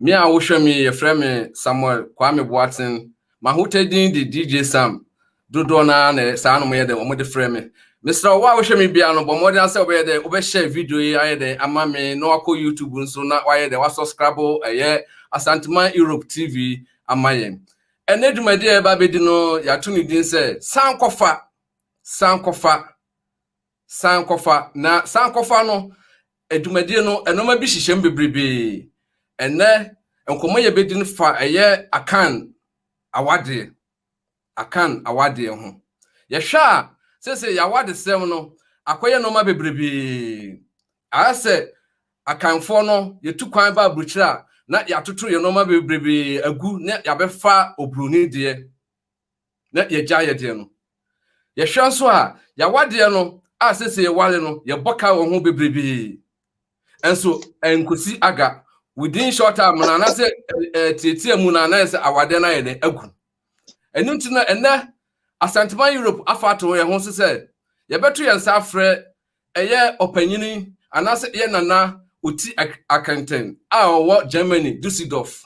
Me a wohwɛ me yi yɛfrɛ me Samuel Kwame Boatsen. M'ahotɛ din de DJ Sam. Dodoɔ no ara na ɛyɛ saa na wɔyɛ dɛn wɔde frɛ me. Mesrɛ wo, wo a wohwɛ me biara no, bɔ mmɔden ara sɛ wobɛyɛ dɛn wobɛhyɛ video yi ayɛ dɛn ama me na wakɔ YouTube nso na wayɛ dɛn wasɔskrabo ɛyɛ Asanteman Europe TV ama yɛn. Ɛnnɛ dwumadi a yɛba abɛdi no yɛato ne din sɛ Sankɔfa Sankɔfa. sankɔfa. Na sankɔfa no dwumadie no, nnoɔma bi hyehyɛ mu bebrebee. Ɛnnɛ, nkɔmmɔ yɛbɛdi no fa ɛyɛ Akan awadeɛ, Akan awadeɛ ho. Yɛhwɛ a, seesei yɛn awadesɛm no akɔyɛ nnoɔma bebrebee. Ayɛ sɛ Akanfoɔ no, yɛtu kwan ba aburokyire a, na yɛatoto yɛn nnoɔma bebrebee agu na yɛabɛfa oburoni deɛ. na yɛagyae yɛn deɛ no. Yɛhwɛ nso a, yɛawa deɛ no a sese yɛware no, yɛbɔ ka wɔ ho bebrebee. Nso ɛnkosi aga within short time na anaasɛ ɛtiatia mu na anayɛ sɛ awadeɛ no ayɛ dɛ agu. Ɛno nti na ɛnɛ Asantema Europe afa ato yɛn ho so sɛ yɛbɛto yɛn nsa afrɛ ɛyɛ ɔpanyini anaasɛ ɛyɛ nana ɔti akɛntɛn a ɔwɔ Germany Dusseldorf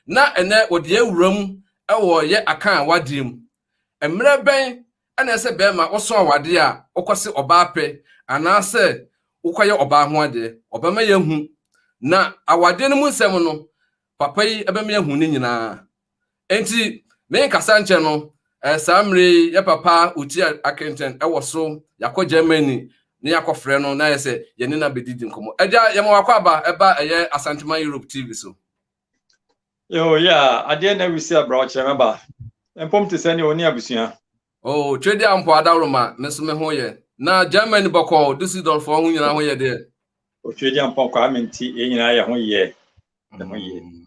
na ɛnnɛ wɔde yɛn wura mu wɔ yɛ akan awadeɛ mu. Mmerɛ bɛn na ɛsɛ bɛɛma wosɔ awadeɛ a wokɔse ɔbaa pɛ anaa sɛ wokɔyɛ ɔbaa ho adeɛ? Ɔbɛma yɛahu. Na awadeɛ no mu nsɛm no, papa yi bɛma yɛahu ne nyinaa. Enti menkasa nkyɛ no, saa mmerɛ yi yɛ papa Utia Akenten wɔ so, yɛakɔ Germany na yɛakɔfrɛ no na ayɛ sɛ yɛne no abɛdidi nkɔmmɔ. Agya, yɛma w'akwaaba ba ɛyɛ Asanteman Europe TV so. Yo, yeah, adeɛ na awisi abra ɔkyerɛ me ba. Mpom te sɛ ne ɔni abusua. Oh, twedi ampo adawroma, me nso me ho yɛ. Na Germany bɔkɔɔ, Düsseldorf ho nyinaa ho yɛ deɛ. O twedi ampo akɔ ame nti, yɛn nyinaa yɛ ho yɛ. Yɛ ho yɛ. Mm.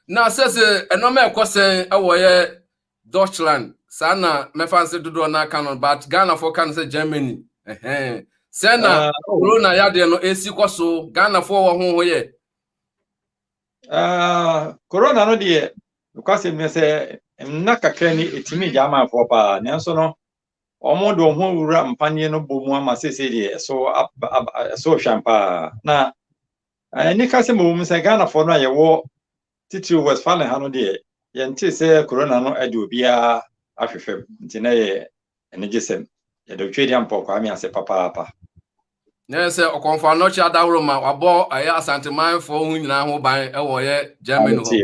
Na sɛ sɛ ɛnɔma ɛkɔ sɛn ɛwɔ yɛ Deutschland, saa na mɛfa nsɛ dodoɔ no aka no, but Ghanafoɔ ka no sɛ Germany. Ɛhɛn. Sɛ na ah, oh. corona yadeɛ no ɛsi kɔ so, Ghanafoɔ wɔ ho ho yɛ. korona no deɛ nokwasɛm ne sɛ nna kakra ni ɛtumi gya amanfoɔ paa nanso no wɔn de wɔn ho wura mpaneɛ no bɔ mu ama seesei deɛ ɛso ɛso hwam paa na ɛnika sɛ mmom sɛ ghanafoɔ no a yɛwɔ titiri west fale ha no deɛ yɛnte sɛ korona no ade obiara ahwehwɛ mu nti na yɛ anigyesɛm yɛde otwe deɛ mpɔ kwame ase papaapa Na ɛyɛ sɛ ɔkɔmfo anɔkye adahoro ma wabɔ ɛyɛ asantemanfoɔ ho nyinaa ho ban wɔ ɔyɛ Germany hɔ.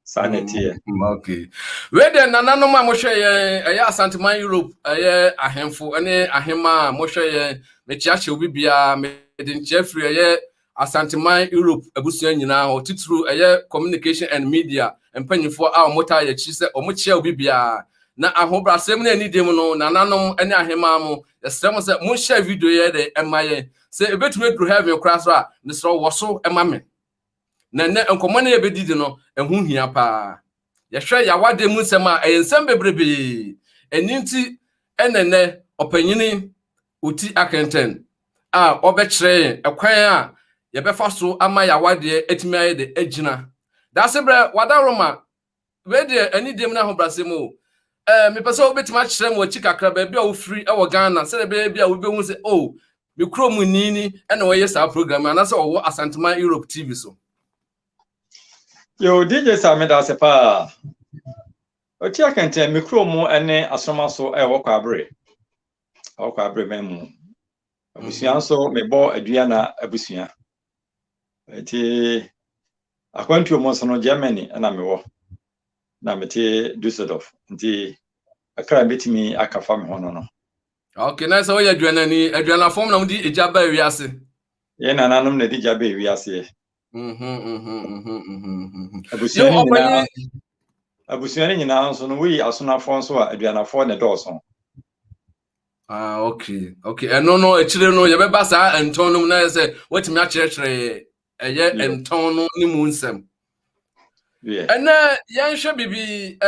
saa na ɛteɛ mm, okay wei deɛ nananom a mohwɛ yɛn ɛyɛ asanteman Europe ɛyɛ ahemfo ne ahema a mohwɛ yɛn mekyeakyɛ obi biara mede nkyea firi ɛyɛ asanteman Europe abusua nyinaa hɔ titiriw ɛyɛ communication and media mpanyinfoɔ a wɔtaa yɛkyi sɛ wɔkyea obi biara na ahobrasɛm ne anidie mu no nananom ne ahema mo yɛsrɛ mo sɛ monhyɛ video yɛ dɛ ɛma yɛn sɛ ɛbɛtumi aduru heaven koraa so a mesrɛ wɔ so ɛma me na nnɛ nkɔmmɔ no yɛbɛdidi no ɛho hia paa yɛhwɛ yɛawadeɛ mu nsɛm a ɛyɛ nsɛm bebrebee ɛni nti ɛnɛ nnɛ ɔpanyini ɔti akɛntɛn a ɔbɛkyerɛ yɛn ɛkwan a yɛbɛfa so ama yɛawadeɛ atumi ayɛ de agyina dase berɛ wada roma wei deɛ anigye mu ne ahobrɛase mu o ɛɛ mepɛ sɛ wobɛtumi akyerɛ mu akyi kakra baabi a wofiri wɔ ghana sɛdeɛ ɛbɛyɛ bi a wobɛhu sɛ o oh, me kuro mu ni ni ɛna wɔyɛ saa program anaasɛ ɔwɔ asantema europe tv so yo dj sa meda ase paa ɔti akɛntɛn me kuro mu ne asoma so ɛwɔ kwabere ɛwɔ kwabere ma mu abusua mhm. nso mebɔ aduana abusua Nti akwantuo mu nso no Germany na mewɔ na mete Dusseldorf nti ɛkra bɛtumi aka fa me ho no no. Okay, na sɛ woyɛ aduanani aduanafam na wode egya ba wiase. Yɛn nananom na ɛde gya ba wiaseɛ. Mhm, mhm, mhm, abusua no nyinaa abusua no nyinaa nso no woyi asonafoɔ nso a aduanafoɔ na ɛdɔɔso. ah okay okay ɛno no akyire no yɛbɛba saa ntɔn no mu na yɛ sɛ watumi akyerɛkyerɛ ɛyɛ ntɔn no ne mu nsɛm ɛnɛ yɛnhwɛ biribi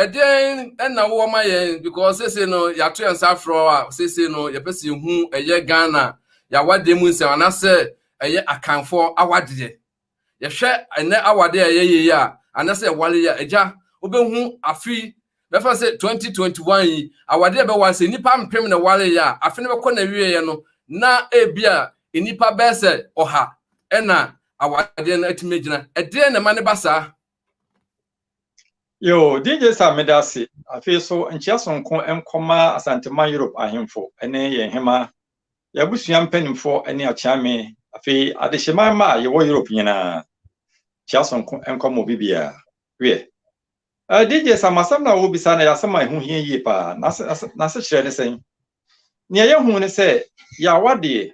ɛdeɛn ɛna wowɔ ma yɛn because sese no yɛato yɛn nsa aforɔ a sese no yɛpɛ sɛ yɛhu ɛyɛ ghana yɛawadeɛ mu nsɛm anaasɛ ɛyɛ akanfoɔ awadeɛ Yɛhwɛ ɛnnɛ awade a ɛyɛ yie a, anasɛ yɛware yi a, agya, wobɛhu afe yi, bɛfa sɛ 2021 yi, awade a ɛbɛware sɛ nnipa mpem na ɛwareeɛ a, afe no bɛkɔ n'awieeɛ no, na ebia nnipa bɛyɛ sɛ ɔha na awadeɛ no atumi agyina. Ɛdeɛn na ɛma no ba saa? Yo, DJ Sam meda ase. Afei so, nkyea sononko nkɔma Asanteman Europe ahemfo ne yɛn hemmaa. Y'abusua mpaninfoɔ ɛne akyea me afei adehyema mma a yɛwɔ Europe nyinaa kyea sonko nkɔ mo bibia wiɛ eh DJ Sam asɛm na wo bisa na yɛ asɛm a ɛho hia yie paa na nasekyerɛ ne sɛn nea yɛ hu ne sɛ yɛawa deɛ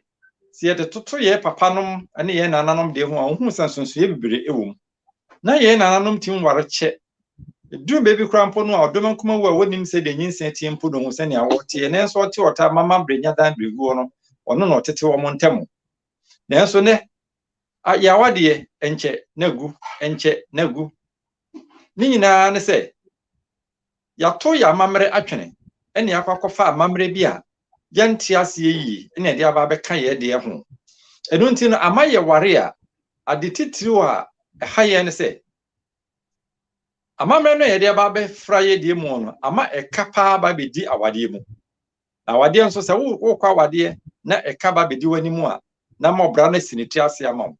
sɛ yɛde toto yɛ papa nom ɛne yɛ nananom deɛ ho a wo hu sɛ nsonsoeɛ bibire ɛwɔ mu na yɛn nananom tim ware kyɛ. Eduru baabi koraa mpo no a, ɔdɔm nkuma wu a wonnim sɛdeɛ nyinsɛn teɛ mpo no hu sɛnea wɔteɛ, nanso ɔte ɔtaa ma ma berɛ nya dan berɛguo no, ɔno na ɔtete wɔn ntam. Nanso nɛ, a, yɛn awadeɛ, ɛnkyɛ na agu, ɛnkyɛ na agu. Ne nyinaa ne sɛ, Yɛatow yɛn amammerɛ atwene na yɛakɔ akɔfa amammerɛ bi a yɛnte aseɛ yie na yɛde aba abɛka yɛn deɛ ho. Ɛno nti no, ama yɛware a, ade titiriw a ɛha yɛn ne sɛ, amammerɛ no a yɛde aba abɛfra yɛn deɛ mu no, ama ɛka paa aba abɛdi awadeɛ mu. Na awadeɛ nso, sɛ wokɔ awadeɛ na ɛka aba abɛdi w'anim a, na ama ɔbra no asi ne ti ase ama wo.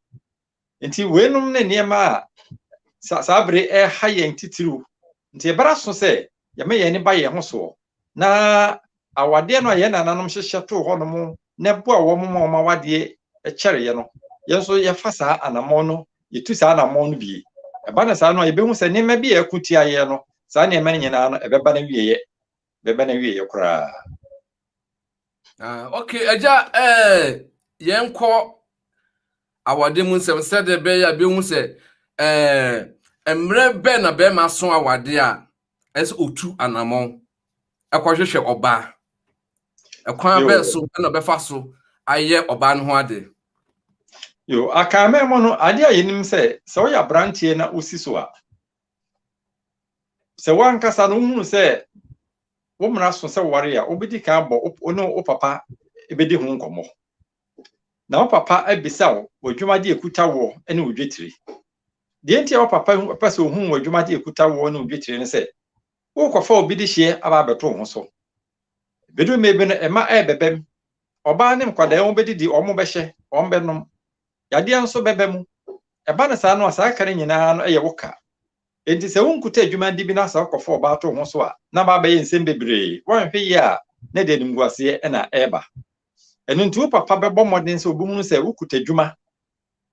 Nti weinom ne nneɛma a sa saa bere ɛreha yɛn titiriw. Nti ɛbɛra so sɛ yɛma yɛn ani ba yɛn ho soɔ, na awadeɛ no a yɛn nananom hyehyɛ too hɔnom na ɛboa wɔn ma wɔn awadeɛ kyɛreeɛ no, yɛn nso yɛfa saa anammɔn no, yɛtu saa anammɔn no bi. Ɛba no saa no a, yɛbɛhu sɛ nneɛma bi a ɛko tia yɛn no, saa nneɛma no nyinaa no, ɛbɛba n'awieeɛ. bɛba n'awieeɛ koraa. Ah, ok, agya eh, yɛnkɔ awade mu nsɛm sɛdeɛ ɛbɛyɛ a bɛhu sɛ eh, mmerɛ bɛn na bɛrima so awade a ɛsɛ ɔtu anammɔn ɛkɔhwehwɛ ɔbaa ɛkwan bɛn so na ɔbɛfa so ayɛ ɔbaa no ho ade yo akanmɛ mu no adeɛ a yɛnim sɛ sɛ woyɛ aberanteɛ na wosi so a sɛ wankasa no wohunu sɛ wo mmara so sɛ ware a wobɛdi kan abɔ wo ne wo papa bɛdi ho nkɔmmɔ na wo papa abisa wo w'adwumade ɛkuta woɔ ne wo dwetire deɛ nti a wo papa pɛ sɛ ohunu w'adwumade ɛkuta woɔ ne wo dwetire no sɛ wokɔfa obi de hyeɛ aba abɛto wo ho so bɛdu mmɛ bi no ɛma ɛbɛbɛm ɔbaa ne nkwadaa wɔn bɛdidi wɔn bɛhyɛ wɔn bɛnom Yadeɛ nso bɛba mu. Ɛba no saa no a, saa ka no nyina ara no yɛ wo ka. Enti sɛ wonkuta adwuma di bi na sɛ wokɔfa ɔbaa to wo ho so a, na ama abɛyɛ nsɛm bebree. Woanhwɛ yie a, na ɛde animguaseɛ na ɛreba. Ɛno nti wo papa bɛbɔ mmɔden sɛ ɔbɛhunu sɛ wokuta adwuma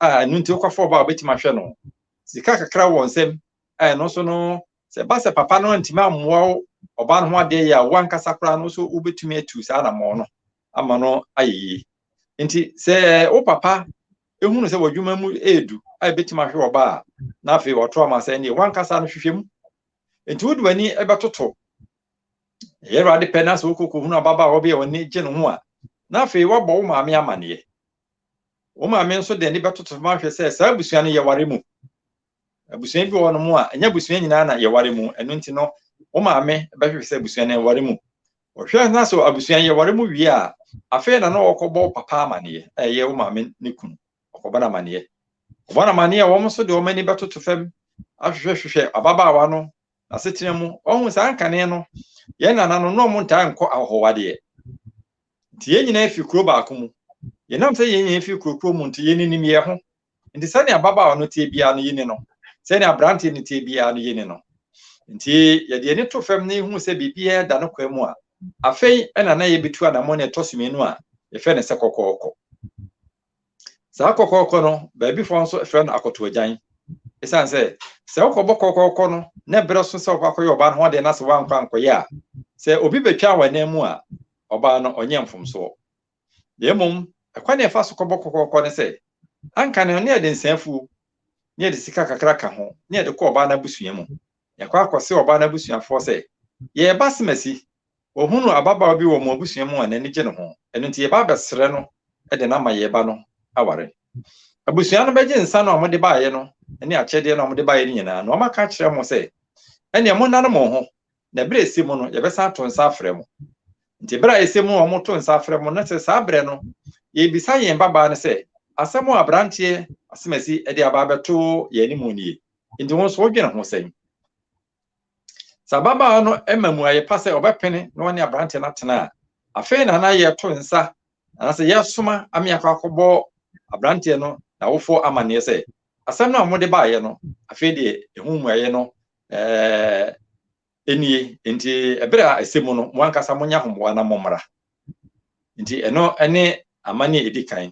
a ɛno nti wokɔfa ɔbaa a ɔbɛtumi ahwɛ no. Sika kakra wɔ nsam a ɛno nso no, sɛ ɛba sɛ papa no antumi ammoa wo ɔbaa no ho adeɛ yɛ a, wo ankasa koraa no nso wobɛtumi atu saa anammɔn no ama no ayɛ yie. nti sɛ wo papa ehunu sɛ w'adwuma mu edu a ebetumi ahwe ɔba a na afei ɔtɔ ama sɛ ɛnneɛ wankasa no hwehwɛ mu nti wode w'ani ɛbɛtoto ɛyɛ awurade pɛ na sɛ wokoko hunu ababaawa bi a ɔne gye ne ho a na afei wabɔ wo maame amaneɛ wo maame nso de ani bɛtoto ma ahwɛ sɛ saa abusua no yɛware mu abusua bi wɔ no mu a ɛnyɛ abusua nyinaa na yɛware mu ɛno nti no wo maame bɛhwehwɛ sɛ abusua no yɛware mu Ɔhwɛ na sɛ abusua yi aware mu wie a, afei na na wɔkɔbɔ wo papa amanneɛ, a ɛyɛ wo maame ne kunu, wɔkɔbɔ no amanneɛ. Wɔbɔ no amanneɛ a, wɔn nso de wɔn ani bɛtoto fam ahwehwɛhwehwɛ ababaawa no, n'asetena mu. Wahu saa nkane no, yɛn nananom, na wɔn ntaa nkɔ ahɔhowadeɛ. Nti yɛn nyinaa fi kuro baako mu. Yɛnam sɛ yɛn nyinaa fi kuro koro mu nti, yɛn ninim yɛn ho. Nti sɛnea ababaawa no teɛ biara no yi ne no, sɛnea aberanteɛ no teɛ biara no yi ne no. Nti yɛde ani to fam na yɛhu sɛ biribiara da no kwan mu a, afei ɛna na yɛbɛtu anammɔn a ɛtɔ so mmienu a yɛfrɛ no sɛ kɔkɔɔkɔ. Saa kɔkɔɔkɔ no, baabifoɔ nso frɛ no akɔtoagyan. Ɛsiane sɛ sɛ wokɔbɔ kɔkɔɔkɔ no na ɛberɛ so sɛ wokɔ akɔyɛ ɔbaa no ho adeɛ na sɛ woankɔ ankɔyɛ a, sɛ obi bɛtwa wɔ anan mu a, ɔbaa no ɔnyɛ mfomsoɔ. na mmom ɛkwan a ɛfa so kɔbɔ kɔkɔɔkɔ ne sɛ anka no na yɛde nsa afuo na yɛde sika kakra ka ho na yɛde kɔ ɔbaa no abusua mu. Yɛkɔ akɔse ɔbaa no abusuafoɔ sɛ, Yɛreba Simasi. Wɔhunuu ababaawa bi wɔ wɔn abusua mu a n'ani gye ne ho, ɛno nti yɛba abɛsrɛ no de no ama yɛn ba no aware. Abusua no bɛgye nsa no a wɔde baeɛ no ne akyɛdeɛ no a wɔde baeɛ no nyinaa na wɔaka akyerɛ wɔn sɛ, Ɛnneɛ monnane mo ho na bere a ɛsɛ mu no, yɛbɛsan ato nsa afrɛ mo. Nti bere a ɛsɛ mu a wɔto nsa afrɛ mo na sɛ saa berɛ no, yɛbisa yɛn babaa no sɛ, Asɛm a aberanteɛ Asemasi de aba abɛto yɛn anim nie, nti wo nso wodwene ho sɛn? Sɛ ababaa no ma mmuaeɛ pa sɛ ɔbɛpene na ɔne aberanteɛ no atena a, afei na na yɛto nsa anaasɛ yɛsoma amea kɔ akɔbɔ aberanteɛ no n'awofoɔ amanneɛ sɛ, asɛm no a mode baeɛ no, afei deɛ ɛho mmuaeɛ no Ɛɛ, enie, enti ɛberɛ a ɛsɛ mu no, mo ankasa monya homboa na mommra. Enti ɛno ne amanne a ɛdi kan.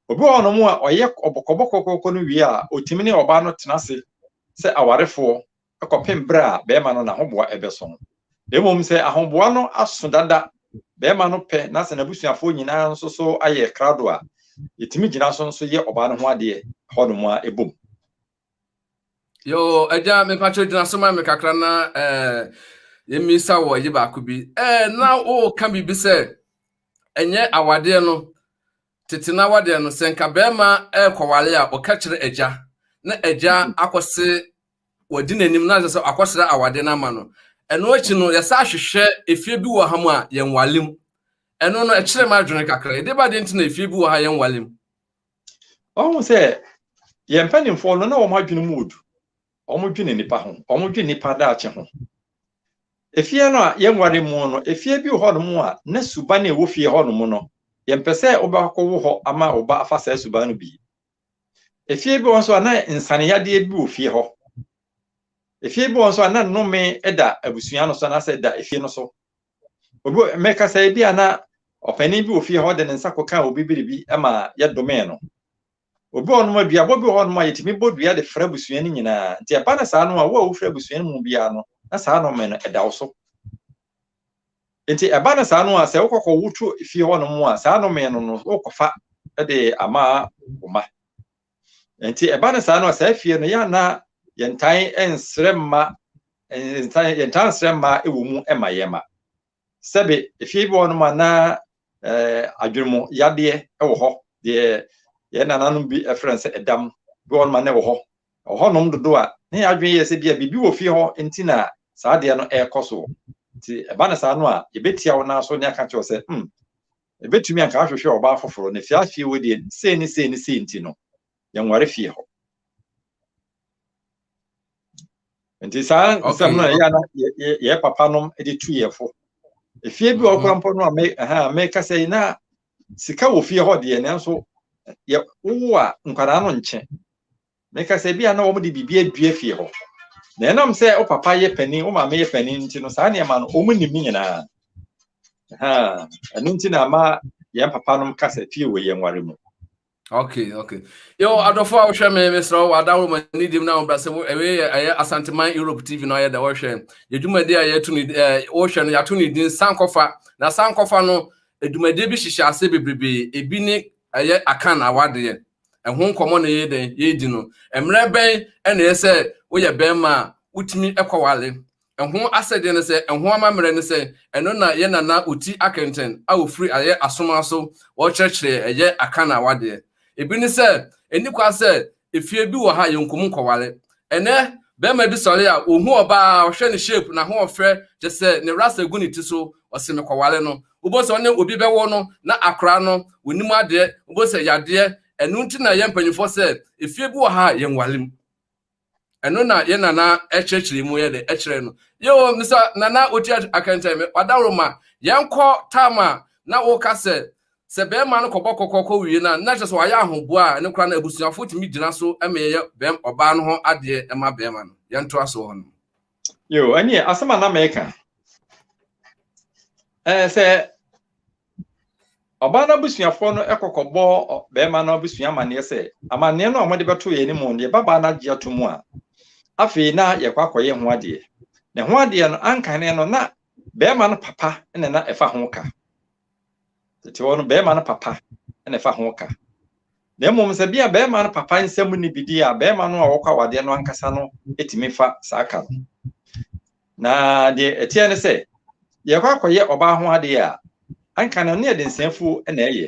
Obi wɔ hɔnom a ɔyɛ ɔbɔkɔbɔkɔkɔkɔ no wie a, ɔtumi ne ɔbaa no tena ase sɛ awarefoɔ kɔpem berɛ a bɛrima no n'ahoboa ɛbɛso no. Mmom sɛ ahoboa no aso dada, bɛrima no pɛ na sɛ n'abusuafoɔ nyinaa nso so ayɛ krado a, ɛtumi gyina so nso yɛ ɔbaa no ho adeɛ hɔnom a ɛbom. Yo, agya mepakyɛ gyina so ma me kakra na eh, yɛmmisa wɔ agye baako bi. Eh, na woka biribi sɛ ɛnyɛ awadeɛ no tete no awadeɛ no sɛ nka bɛrima ɛrekɔwale a ɔka kyerɛ agya na agya akɔse wɔdi n'anim na sɛ akɔsrɛ awadeɛ no ama no. Ɛno akyi no yɛsa ahwehwɛ efie bi wɔ ha mu a yɛnwale mu. Ɛno no ɛkyerɛ m'adwene kakra. Ɛde ba deɛ nti na efie bi wɔ ha yɛnwale mu. ɔhu sɛ yɛn mpanimfoɔ no na wɔn adwene mu odu wɔn dwene nipa ho wɔn dwene nipa daakye ho efie no a yɛnware mu no efie bi wɔ hɔnom a na suban a ɛwɔ fie hɔnom no yɛmpɛ sɛ wobɛkɔ wo hɔ ama wo ba afa saa suban no bi efie bi wɔ nso a na nsaneyadeɛ bi wɔ fie hɔ efie bi wɔ nso a na nnome da abusua no so anaasɛ da efie no so obi mɛkasa ebi a na ɔpanyin bi wɔ fie hɔ de ne nsa kɔka obi biribi ma yɛdomee no obi hɔ nom aduabɔ bi hɔ nom a yɛtumi bɔ dua de frɛ abusua no nyinaa nti ɛba no saa no a wo a wofrɛ abusua no mu biara no na saa nɔmɛ no ɛda wo so nti ɛba no saa no a sɛ wokɔkɔ woto fie hɔ nom a saa nɔmɛ no no wokɔfa de ama wo ma Nti ɛba no saa no a saa fie no yɛ na yɛntan nsrɛ mma ntan yɛntan nsrɛ mma wɔ mu ma yɛn ma sɛbe efie bi wɔ no ma na ɛɛ adwenmu yadeɛ wɔ hɔ deɛ yɛn nananom bi ɛfrɛ no sɛ ɛdam bi wɔ no ma na ɛwɔ hɔ ɔhɔnom dodo a ne yɛ adwene yɛ sɛ bia biribi wɔ fie hɔ nti na saa adeɛ no ɛrekɔ so nti ɛba no saa no a yɛbɛtia wo naa so ne aka kyerɛ sɛ hmm Ebetumi anka ahwehwɛ ɔbaa foforo, na fie a fie wɔ deɛ sei ne sei ne sei nti no, yɛnware fie hɔ. Nti saa nsɛm no ɛyɛ na yɛ papa nom de tu yɛ fo. Efie bi wɔ mhm. kora mpo no a me ɛha meka sɛ na sika wɔ fie hɔ deɛ nanso yɛ wowo a nkwadaa no nkyɛ. Meka sɛ ebia na wɔde biribi adua fie hɔ. Na ɛnam sɛ wo papa yɛ panin, wo maame yɛ panin nti no, saa nneɛma no, wɔn nim nyinaa. Ɛno nti na ama yɛn papa nom ka sɛ fie wɔ yɛn nware mu. Okay, okay. Yo, adɔfo a wohwɛ me mesrɛ wo ada wo m'ani dim na wobrɛ sɛ ɛwei yɛ ɛyɛ Asanteman Europe TV no ayɛ dɛ wɔhwɛ yɛdwumadi a yɛto ne eh, wohwɛ no yɛato ne din sankɔfa na sankɔfa no adwumadie bi hyehyɛ ase bebrebe ebi ne ɛyɛ akan awadeɛ ɛho nkɔmmɔ na yɛyɛ dɛn yɛredi no mmerɛ bɛn ɛna ɛyɛ sɛ woyɛ bɛrima a wotumi kɔwale ɛho asɛdeɛ no sɛ ɛho amammerɛ no sɛ ɛno na yɛ nana ɔti akɛntɛn a ɔfiri ayɛ asoma so wɔkyerɛkyerɛ ɛyɛ aka na awadeɛ ebi ne sɛ ɛni kwa sɛ efie bi wɔ ha yɛnkum nkɔwale ɛnɛ bɛrima bi sɔre a ɔhu ɔbaa ɔhwɛ ne shape n'ahoɔfɛ kyɛ sɛ ne rasta gu ne ti so ɔse mekɔwale no Wobɛhu sɛ ɔne obi bɛwɔ no na akora no, ɔnim adeɛ, wobɛhu sɛ yadeɛ. Ɛno nti na yɛn mpanimfoɔ sɛ, efie bi wɔ ha a yɛnwale mu. Ɛno na yɛn nana ɛkyerɛkyerɛ mu yɛ dɛ ɛkyerɛ no. Yoo, Mr. Nana Otia Akɛntɛn, me ɔdaworo ma, yɛnkɔ tam a na woka sɛ, sɛ bɛrima no kɔbɔ kɔkɔ kɔ wie no a, na kyerɛ sɛ wayɛ ahoboa a ɛno koraa na abusuafoɔ tumi gyina so ma yɛyɛ bɛrima, ɔbaa no ho adeɛ ma bɛrima no. Yɛntoa so hɔ nom. yo ɛneɛ asɛm a na meka ɛɛ sɛ ɔbaa no abusuafoɔ no kɔkɔbɔ bɛrima no abusua amanneɛ sɛ amanneɛ no a wɔde bɛto yɛn anim no yɛba baa no agye ato mu a afei na yɛkɔ akɔyɛ ho adeɛ na ho adeɛ no anka ne no na bɛrima no papa na na ɛfa ho ka tete hɔ no bɛrima no papa na ɛfa ho ka na mmom sɛ bia bɛrima no papa nsɛm ne bi di a bɛrima no a wɔkɔ awadeɛ no ankasa no tumi fa saa ka no na deɛ ɛteɛ ne sɛ yɛkɔ akɔyɛ ɔbaa ho adeɛ a anka no ne yɛde nsɛmfuo na ɛyɛ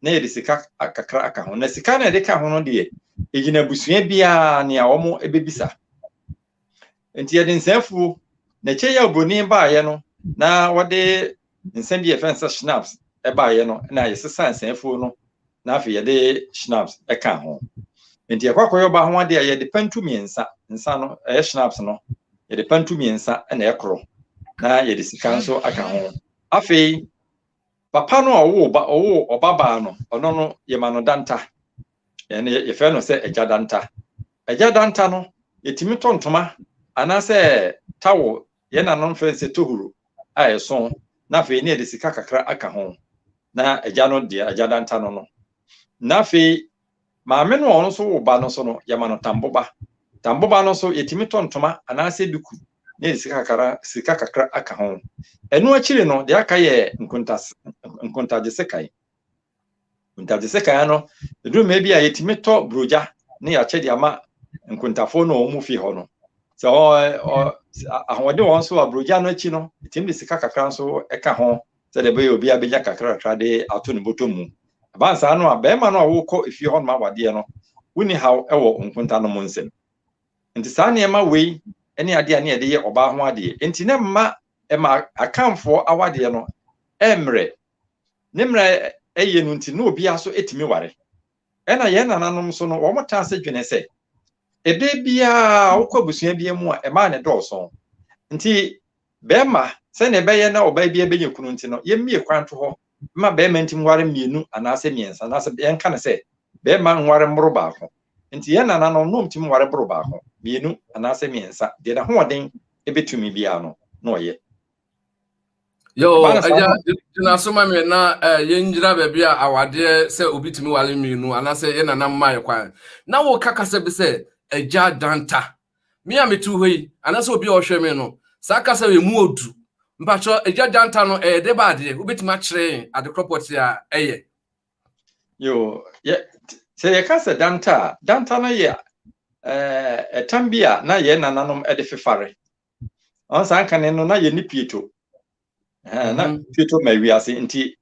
na yɛde sika kakra aka ho na sika na yɛde ka ho no deɛ ɛgyina abusua biara nea wɔn bɛbisa Nti yɛde nsa afuo na ɛkyɛ yi a obroni baayɛ no na wɔde nsa bi a yɛfrɛ no sɛ schnapps ɛbaayɛ no na yɛsesa nsa afuo no na afei yɛde schnapps ɛka ho nti yɛkɔ akɔyɛ ɔbaa ho adeɛ a yɛde pantu mmiɛnsa nsa no ɛyɛ schnapps no yɛde pantu mmiɛnsa na ɛkorɔ na yɛde sika nso aka ho afei papa no a ɔwoo ɔba ɔwoo ɔbabaa no ɔno no yɛma no danta ɛne yɛfrɛ no sɛ agya danta agya danta no yɛtumi tɔ ntoma anaasɛ tawo yɛn nanom frɛ sɛ tohuro a ɛso na afei ne yɛde sika kakra aka ho na agya no deɛ agya danta no no na afei maame no a ɔno nso wo ba no so no yɛma no tamboba tamboba no so yɛtumi tɔ ntoma anaasɛ duku na yɛde sika kakra sika kakra aka ho ɛno akyiri no deɛ aka yɛ nkontase nkontagye sekan Ntate sɛ kan no, ɛduru mmɛ bi a yɛtumi tɔ burogya ne yɛakyɛ de ama nkontafoɔ no wɔn mu fi hɔ no. Sɛ ahoɔden wɔn so a burogya no akyi no, ɛtumi de sika kakra nso ɛka ho sɛdeɛ ɛbɛyɛ obi abɛnya kakrakra de ato ne bɔtɔ mu. Ɛban saa no a, bɛrima no a wokɔ efie hɔ nom awadeɛ no, wonni haw wɔ nkonta no mu nsɛm. Nti saa nneɛma wei ne adeɛ a ne yɛde yɛ ɔbaa ho adeɛ. Nti na mma ɛma akanfoɔ awadeɛ no ɛmmerɛ ne mmerɛ yɛ no nti, na obiara nso tumi ware. Ɛna yɛn nananom nso no, wɔn taa sɛ dwene sɛ, ɛbɛ biara wokɔ abusua bi mu a, ɛmaa ne dɔɔso. Nti, bɛrima sɛnea ɛbɛyɛ na ɔbaa biara bɛnya kunu nti no, yɛmmie kwan to hɔ ma bɛrima ntim ware mmienu anaasɛ mmiɛnsa, anaasɛ yɛnka no sɛ bɛrima nware mmoro baako. Nti, yɛn nananom na wɔtumi ware boro baako, mmienu anaasɛ mmiɛnsa, deɛ n'ahoɔden bɛtumi biara no na ɔyɛ. yo agya gyina so ma me na eh, yɛngyina baabi a awadeɛ sɛ obi tumi wale mmienu anaasɛ yɛ nana mmae kwan na woka kasa bi sɛ agya danta me a metu hɔ yi anaasɛ obi a ɔhwɛ me no saa kasa yɛ mu odu mpakyɛ agya danta no ɛyɛ de ba adeɛ wobɛtumi akyerɛ adekorɔ pɔte a ɛyɛ yo yɛ sɛ yɛka sɛ danta a danta no yɛ ɛtam bi a na yɛn nananom de fefare ɔn saa nkane no na yɛn ne pieto Ɛhɛn, na Mhm. pieto ma wiase nti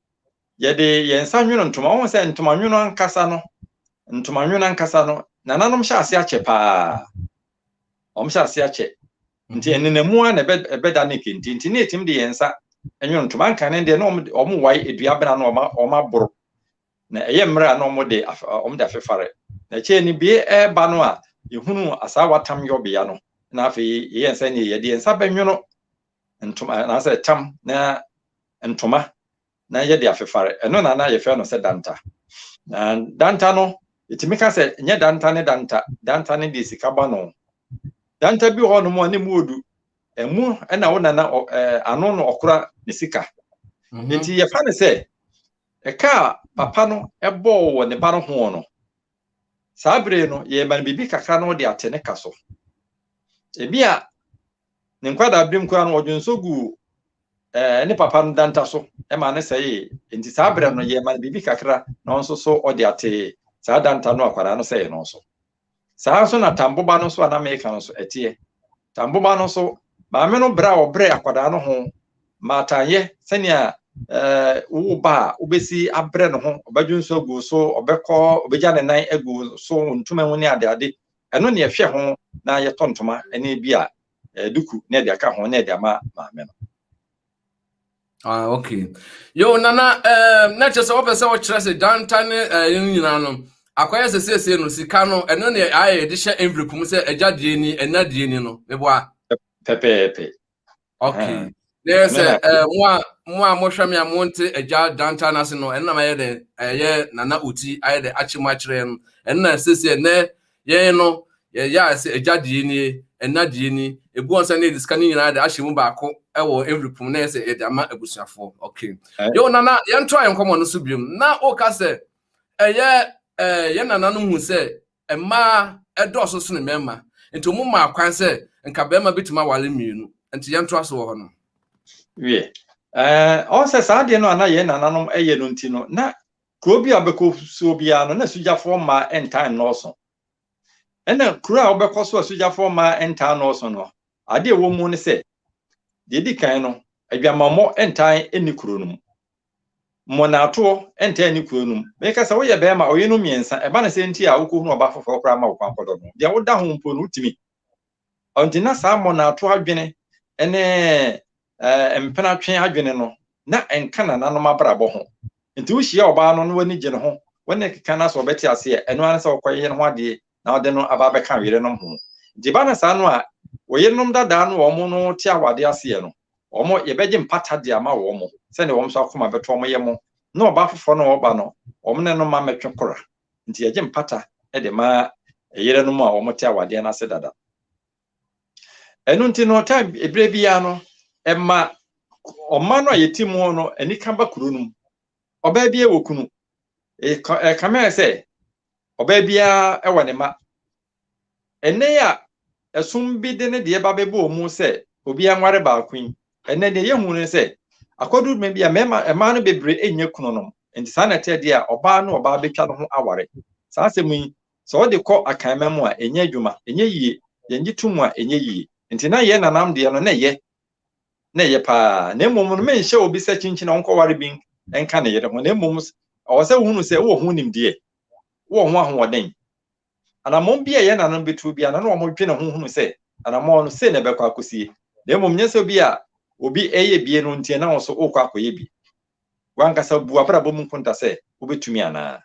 yɛde yɛn nsa nwono ntoma wɔn sɛ ntoma nwono ankasa no ntoma nwono ankasa no nananom hyɛ ase akyɛ paa wɔn hyɛ ase akyɛ nti ɛnenamu a na ɛbɛ- ɛbɛda ne kente nti na yɛtumi de yɛn nsa nwono ntoma nkane deɛ na wɔn wɔn wae dua bena no wɔn a- wɔn aboro na ɛyɛ mmerɛ a na wɔde af wɔde afefare. Na akyire no bie reba no a, yɛhunuu asaawa tam yɔbea no, na afei yɛyɛɛ nsɛ neɛ yɛde yɛn nsa bɛnwono ntoma anaasɛ tam na ntoma na yɛde afefare. Ɛno na na yɛfrɛ no sɛ danta. Na danta no, yɛtumi ka sɛ nyɛ danta ne danta, danta ne deɛ sika bɔ no. Danta bi wɔ hɔnom a ne mu odu, ɛmu na wo nana ɔ, ɛɛ, ano na ɔkora ne sika. Mhm. Nti yɛfa no sɛ Ɛka a papa no bɔɔ wɔ ne ba no ho no, saa bere no yɛma no biribi kakra na ɔde ate ne ka so. Ebia ne nkwadaaberem koraa no ɔdwe nso guu eh, ne papa no danta so ma ne sɛe. Nti saa bere no yɛma no biribi kakra na ɔnso so ɔde ate saa danta no akwadaa no sɛe no so. Saa ara nso na tamboba no nso a na meka no nso ɛteɛ. Tamboba no nso, maame no brɛ a ɔbrɛ akwadaa no ho maatanyɛ sɛnea ɛɛ wo ba a wobɛsi abrɛ ne ho ɔbɛdwo nso agu so ɔbɛkɔ ɔbɛgya ne nan agu so wɔ ntoma mu ne adeade ɛno ne ɛhwɛ ho na yɛtɔ ntoma ne bi a ɛɛ duku ne ɛde aka ho ne ɛde ama maame no. ah okay yo nana ɛɛ eh, na kyerɛ sɛ wɔpɛ sɛ wɔkyerɛ sɛ danta ne ɛɛ eh, nyinaa no akɔyɛ sɛ siesie no sika no ɛno ne ayɛ yɛde hyɛ envelope mu sɛ ɛgya deɛ ni ɛna deɛ ni no meboa pɛpɛɛpɛ okay ah. na yɛ sɛ ɛɛ eh, mo a mo a mohwɛ me a monte agya danta no ase no ɛno na mayɛ dɛ ɛyɛ nana oti ayɛ dɛ akye mu akyerɛ no ɛno na siesie nɛ Yɛn no, yɛyae sɛ agya deɛ nie, ɛna deɛ ni, ɛgu wɔn sɛ ne yɛde sika no nyinaa de ahyɛ mu baako wɔ envelope mu na yɛ sɛ yɛde ama abusuafoɔ. Okay. Eh? Yo, nana, yɛntoa yɛn nkɔmmɔ no so biom. Na woka sɛ ɛyɛ eh, yɛn nana no hu sɛ mmaa ɛdɔɔso sene mmarima. Nti wɔn maa kwan sɛ nka barima bɛtumi aware mmienu. Nti yɛntoa so wɔ hɔ no. Wie. Eh, ɔn sɛ saa deɛ no a na yɛn nananom ɛyɛ no nti no, na Kurow bi a wobɛkɔ so biara no, na asogyafoɔ mmaa ntaa nnɔɔso. Ɛnna kurow a wobɛkɔ so a asogyafoɔ mmaa ntaa nnɔɔso no, ade a ɛwɔ mu ne sɛ, deɛ ɛdi kan no, adwamammɔ ntaa nni kurow no mu. Mmonnaatoɔ ntaa nni kurow no mu. Meka sɛ woyɛ barima a ɔyerenom mmiɛnsa, ɛba ne sɛ nti a wokɔhunu ɔbaa foforɔ koraa ma wo kwan kɔdɔ no, deɛ woda ho mpo no, wotumi. Ɔnti na saa mmonnaatoɔ adwene ne Ɛɛ, mpenatwe adwene no, na ɛnka nananom abrabɔ ho. Nti wohyia ɔbaa no na w'ani gye ne ho, wo ne no keka na sɛ ɔbɛte ase ɛ, ɛno ara ne sɛ wokɔyɛ ne ho adeɛ na wode no aba abɛka wo yerenom ho. Nti ɛba no saa no a, wo yerenom dadaa no a wɔn no te awade ase ɛ no, wɔn, yɛbɛgye mpata de ama wɔn, sɛdeɛ wɔn nso akoma bɛtɔ wɔn yam, na ɔbaa foforɔ no a ɔba no, wɔn ne no mma mmɛtwe kora. Nti yɛgye mpata de ma yerenom a wɔte awadeɛ no ase dada. ɛno nti no time ebire biara no ɛma ɔma no a yɛte mu no anika ba kuro no mu ɔbaa biara wɔ kunu ɛkame ayɛ sɛ ɔbaa biara ɛwɔ ne ma ɛnɛ a ɛsom bi de ne deɛ ba bɛbɔ mu sɛ obiara nware baako yi ɛnɛ deɛ yɛhu no sɛ akɔduru dwuma bi a mmarima mmaa no bebree ɛnyɛ kunu nom nti saa na ɛteɛ deɛ a ɔbaa no ɔbaa bɛtwa no ho aware saa asɛm yi Sɛ wɔde kɔ akanman mu a, ɛnyɛ adwuma, ɛnyɛ yie. Yɛngye to mu a, ɛnyɛ yie. Nti na yɛn nanam deɛ no, na ɛyɛ. Na ɛyɛ pa ara. Na mmom no, menhyɛ obi sɛ kyinkyin a ɔnkɔware bi nka ne yere ho. Na mmom, ɛwɔ sɛ wohunu sɛ wowɔ ho nimdeɛ, wowɔ ho ahoɔden. Anammɔn bi a yɛn nananom bɛtuo biara no, na wɔdwene ho hunu sɛ anammɔn no, sei na ɛbɛkɔ akɔsie. Na mmom nyɛ sɛ bi a obi reyɛ bie no nti na wo nso worekɔ akɔyɛ bi. W'ankasa bu w'abrabɔ mu nkonta sɛ wobɛtumi anaa.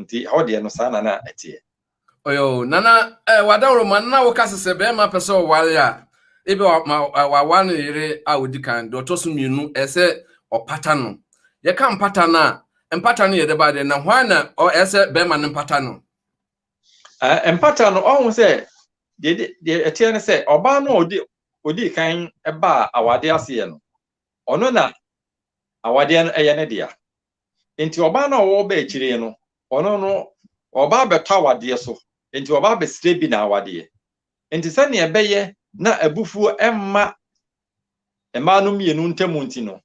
Nti ɛhɔ deɛ no saa na na ɛteɛ. Ɔyɔ o, Nana eh, w'adawuroma no na woka sɛ sɛ bɛrima pɛ sɛ ɔware a, ebi wa ma wawa ne yere a odi kan, deɛ ɔtɔ so mmienu, ɛsɛ ɔpata no. Yɛka mpata no a, mpata no yɛ dɛ baa dɛ, na hwan na ɔ ɛsɛ bɛrima no mpata no? Eh, mpata no, ɔho sɛ deɛ deɛ ɛteɛ ne sɛ ɔbaa no a odi odi kan baa awadeɛ aseɛ no, ɔno na awadeɛ no ɛyɛ ne dea. Enti ɔbaa no a ɔwɔ ba akyire no, ɔno no, ɔba abɛtɔ awadeɛ so, enti ɔba abɛsrɛ bi n'awadeɛ. Enti sɛdeɛ ɛbɛyɛ na abufuo mma mmaa no mmienu ntam nti no,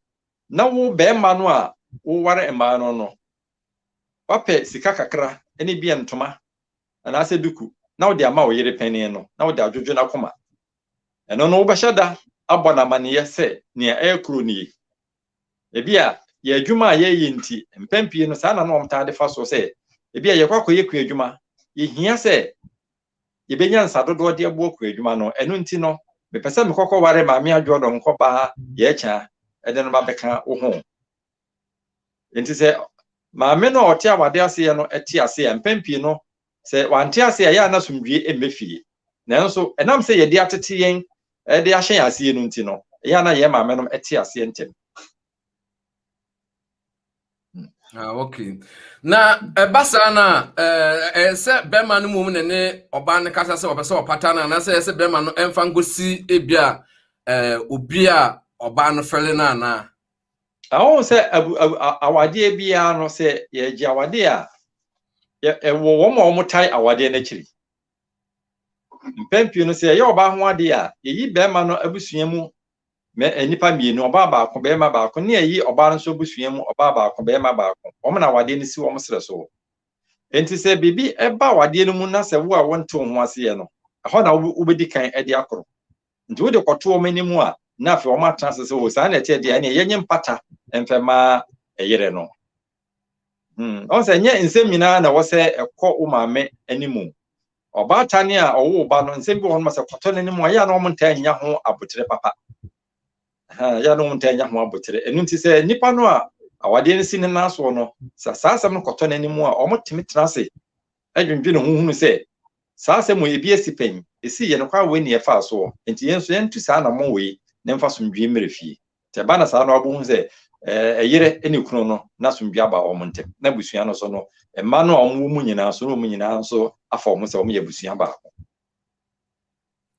na wo barima no a woware mmaa no no, woapɛ sika kakra ne ebia ntoma anaasɛ duku na wode ama wo yere panin no na wode adwodwo n'akoma. Ɛno no, wobɛhyɛ da abɔ no amanneɛ sɛ nea ɛrekɔ nie. Ebia yɛn adwuma a yɛyɛ nti, mpɛn pii no saa na na wɔtaa de fa so sɛ ebia yɛkɔ akɔyɛ kuadwuma, yehia sɛ yebenya nsa dodoɔ de aboa kuadwuma no, ɛno nti no, mepɛ sɛ mekɔkɔware Maame Adwoɔdɔ nkɔba Yɛakya de no ba bɛka wo ho. Enti sɛ maame no a ɔte awadeɛ aseɛ no te ase a, mpɛn pii no Sɛ wɔante ase a, ɛyɛ a na asomdwoe mmɛ fie. Nanso, ɛnam sɛ yɛde atete yɛn de ahyɛ yɛn aseɛ no nti no, ɛyɛ a na yɛn maamenom te aseɛ ntɛm. Ah, okay. Na ɛba saa no a, ɛyɛ sɛ bɛrima no mmom ne ne ɔbaa no kasa sɛ ɔpɛ sɛ ɔpata no anaasɛ ɛyɛ sɛ bɛrima no ɛmfa nkɔsi ebi a obi a ɔbaa no fɛle no anaa? Ɛwɔ sɛ awadeɛ biara no sɛ yɛgye awadeɛ a ɛwɔ wɔn a wɔtae awadeɛ no akyiri. Mpɛn pii no sɛ ɛyɛ ɔbaa ho adeɛ a yɛyi bɛrima no abusua mu nnipa mmienu, ɔbaa baako, bɛrima baako, ne ɛyi ɔbaa no nso abusua mu ɔbaa baako, bɛrima baako. Wɔn na awadeɛ no si wɔn serɛ so. Enti sɛ biribi ba awadeɛ no mu na sɛ wo a wontew ho aseɛ no, ɛhɔ na wobɛdi kan de akoro. Nti wode kɔto wɔn anim a, na afei wɔn atena ase sɛ, o saa na ɛteɛ deɛ, ɛneɛ yɛnyɛ mpata mfɛ mma ɛyere no. Hmm, ɔn sɛ ɛnyɛ nsɛm nyinaa na ɛwɔ sɛ ɛkɔ wo maame anim. Ɔbaatan a ɔwoo ba no, nsɛm bi wɔ hɔ no sɛ kɔtɔ n'anim a, yɛ a na wɔn ntaa nya ho abotere papa. Yɛ a na wɔn ntaa nya ho abotere. Ɛno nti sɛ nipa no a awadeɛ no si ne nan soɔ no, sɛ saa asɛm no kɔtɔ n'anim a, wɔn tumi tena ase dwendwene ho hunu sɛ saa asɛm wei, ebi asi pɛn, esii yɛn kwan wei na yɛfaa so wɔ, enti yɛn nso yɛntu saa anammɔn wei na ɛmfa asomdwoe mmra fie. Nti ɛba na saa no abɛhu sɛ ɛyere ne kunu no na asomdwoe aba wɔn ntam, na abusua no so no, mma no a wɔwɔ mu nyinaa nso na wɔn nyinaa nso afa wɔn ho sɛ wɔyɛ abusua baako.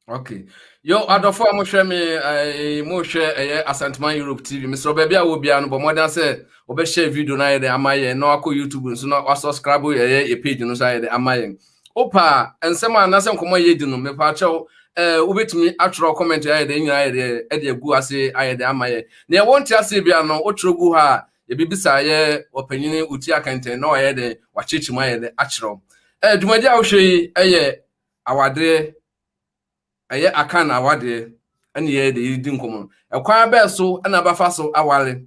okay yo adɔfo a mohwɛ me eh, mohwɛ ɛyɛ eh, asantuma europe tv mesrɛ baabi a wɔbiara no bɔ mmɔden sɛ wɔbɛhyɛ video no ayɛ dɛ ama yɛn na wakɔ youtube nso na wasubscribe ɛyɛ eh, yɛ page no nso ayɛ dɛ ama yɛn wopa nsɛm a nasɛ nkɔmmɔ a yɛdi no mepa kyɛw eh, wobɛtumi atwerɛ comment ayɛ dɛ nyina ayɛ dɛ ɛde agu ase ayɛ dɛ ama yɛn na ɛwɔ nte aseɛ bia no wotwerɛ gu ha a yɛbɛbisa yɛ ɔpanyini ɔti akɛntɛn na wayɛ dɛ wakyekye mu ayɛ dɛ akyerɛw eh, dwumadi a wohwɛ yi ɛyɛ awadeɛ, ɛyɛ Akan awadeɛ ɛne yɛyɛ de yɛredi nkɔmmɔ no. Ɛkwan bɛɛ so ɛna bɛfa so aware?